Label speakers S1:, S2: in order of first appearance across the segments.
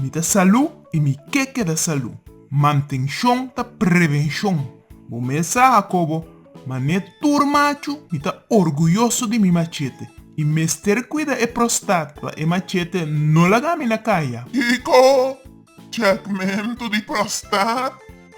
S1: Mi ta salú i mi ke keda salú. Mantenshon ta prevenshon. Bo mes sa, Hakobo, man'é tur machu mi ta orguyoso di mi machete. I mester kuida e prostat pa e machete no laga mi na kaya. Kiko? Chèkmentu di prostat?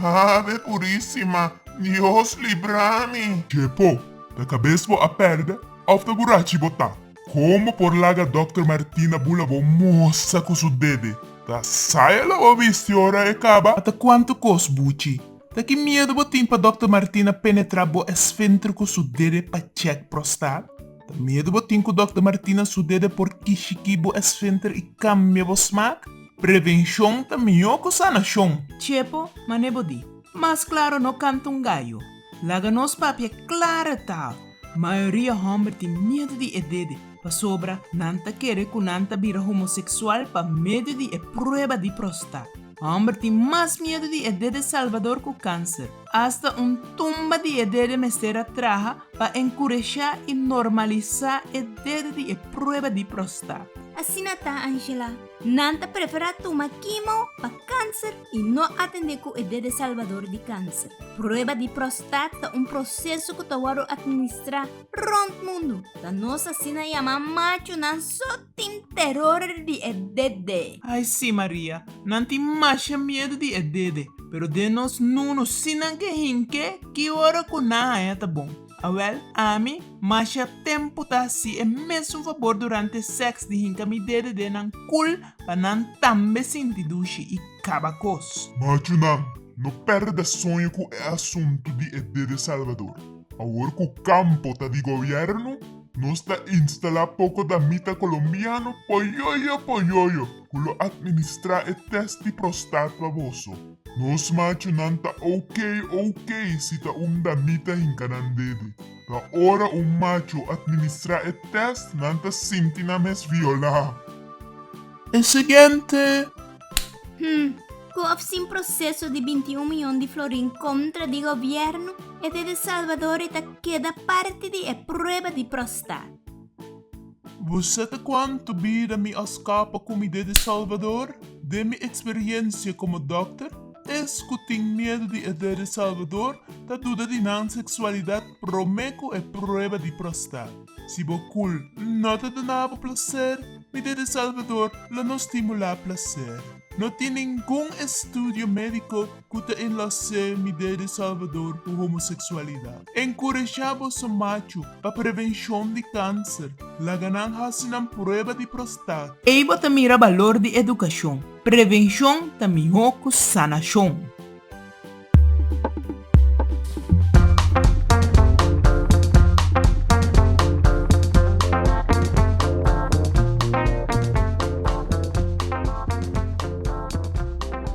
S1: Ave Purísima, Dios libra mi! Dje po, ta kabes bo a pèrdè òf ta burachi bo ta? Kon bo por laga Dòkter Martina bula bo mostra ku su dede ta saya lo bo bisti ora e kaba? Ata kuantu kos, buchi? Ta ki miedu bo tin pa Dòkter Martina penetra bo esfenter ku su dede pa chèk prostat? Ta miedu bo tin ku Dòkter Martina su dede por kishiki bo esfenter i kambia bo smak? Prevenshon ta mihó ku sanashon! Chepo, mane bo di. Mas klaro no kanta un gayo. Laga nos papia klara tal, mayoria hòmber tin miedu di e dede pasobra nan ta kere ku nan ta bira homoseksual pa medio di e prueba di prostat. Hòmber tin mas miedu di e dede salbador ku kanser. Asta un tumba di e dede mester a traha pa enkureshá i normalisá e dede di e prueba di prostat. Asina ta, Angela. Nan ta preferá tuma kimo pa kanser i no atendé ku e dede salbador di kanser. Prueba di prostat ta un proseso ku ta wòrdu atministrá rònt mundu, ta nos asina yamá machunan so tin teror di e dede. Ai sí Maria, nan tin masha miedu di e dede, pero den nos nunu, si nan ke hink'é, ki ora ku nan haña ta bon. Awel, ami, masha tempu ta hasi e mesun fabor durante seks di hinka mi dedede nan kul pa nan tambe sinti dushi i kaba kos. Machunan, no perde soño ku e asuntu di e dede salbador. Awor ku kampo ta di gobièrnu, nos ta instalá poko damita kolombiano poyoyo poyoyo. ku lo atministrá e tèst di prostat pa boso. Nos machunan ta OK OK si ta un damita hinka nan dede. Pa ora un machu atministrá e tèst nan ta sinti nan mes violá. E siguiente. Hm, ku òf sin proseso di binti un miyon di florin kontra di gobièrnu, e dede Salvador e ta keda parti di e prueba di prostat. Bu sa ta kuantu bida mi a skapa ku mi den e Salvador? Den mi eksperiensia komo dòkter, es ku tin miedu di edet e Salvador ta duda di nan seksualidat promé ku e prueba di prostat. Si bo kul no ta duna bo plaser, mi den e Salvador lo no stimulá plaser. No tin ningun estudio médiko ku ta enlasé midé di Salvador ku homoseksualidat. Enkurashá boso machu pa prevenshon di kanser, laga nan hasi nan prueba di prostat. Ei bo ta mira balor di edukashon, prevenshon ta mihó ku sanashon.